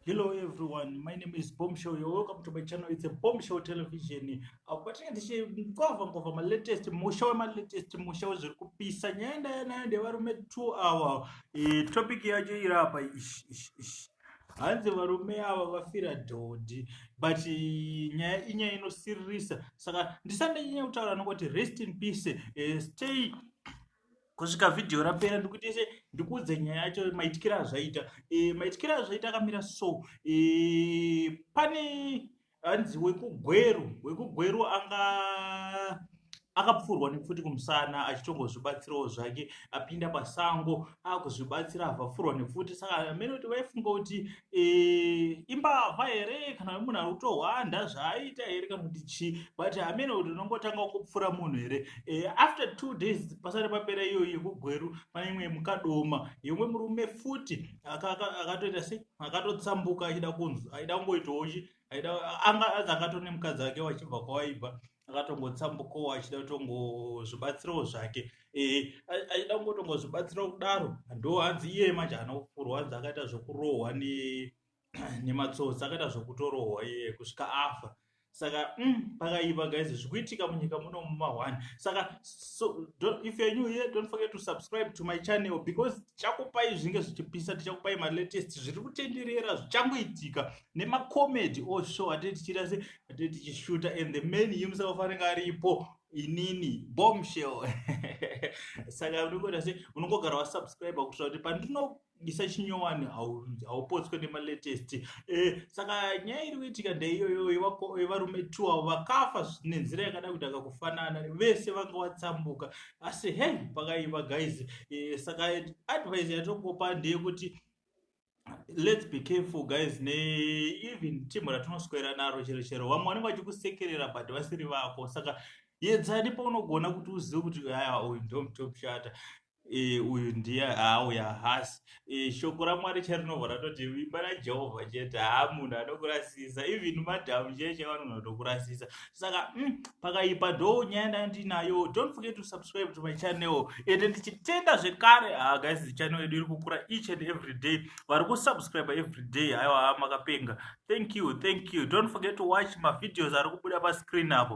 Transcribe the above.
Hello everyone, my name is Bombshell. You're welcome to my channel. It's a Bombshell Television. Uh, but yeah, this is cover cover my latest musha my latest musha zviri kupisa nyaya ndaya nayo ndevarume 2 hour. E, topic yacho iri apa ish ish ish. Hanzi varume ava vafira dhodhi but eh, nyaya inyaya inosiririsa saka ndisandanyanya kutaura nokoti rest in peace uh, stay kusvika vhidhiyo rapera ndikuite se ndikuudze nyaya yacho maityira azvaita e, eh, maityira azvaita akamira so e, pane hanzi wekugweru wekugweru anga akapfurwa nepfuti kumusana achitongozvibatsirawo zvake apinda pasango akuzvibatsira avafurwa nepfuti saka amene kuti vaifunga kuti Eh, imbavha here kana kuti munhu ari kutohwanda zvaaita here kana kuti chii but hameno kuti unongotanga kupfura munhu here Eh, after two days pasati papera iyoyo yekugweru pane imwe yemukadoma yemwe murume futi aka- aka- akatoita se akatotsambuka achida kunzi aida kungoitawo chi aida anga azi akatone mukadzi wake wachibva kwawaibva akatongotsambukawo achida kutongozvibatsirawo zvake eh, achida kungotongozvibatsirawo kudaro ndo hanzi iye manje haana kufurwa hanzi akaita zvekurohwa nematsotsi akaita zvekutorohwa iye kusvika afa saka mm, pakaiva guys zvikuitika munyika muno muma one saka so, don't, if you're new here don't forget to subscribe to my channel because tichakupai zvinge zvichipisa tichakupai malatest zviri kutenderera zvichangoitika nemacomedy oshow atee tichiita se atee tichishuta and the man himself anenge aripo inini bombshell saka unongoita se unongogara wasubscribe kuitira kuti pandino isa chinyowani haupotswe nemalatest eh, saka nyaya iri kuitika ndeiyoyo yevarume t avo vakafa nenzira yakada kuti akakufanana vese vanga vatsambuka asi he pakaiva guys eh, saka advise yatongopa ndeyekuti let's be careful guys ne even team ratinoswera naro chero chero vamwe vanenge vachikusekerera but vasiri vako saka yedzani paunogona kuti uzive kuti aya uyu ndomtop shata e, uyu ndiye haauya hasi e, shoko ramwari charinobva ratoti vimba rajehovha chete haa munhu anokurasisa even madhamu chee chevanhu vanotokurasisa saka mm, pakaipa ndo nyaya ndanga ndinayo don't forget to subscribe to my channel ende ndichitenda zvekare ah, guys the channel yedu iri kukura each and every day vari kusubscribe every day aiwa makapenga thank you thank you don't forget to watch mavideos ari kubuda pascreen apo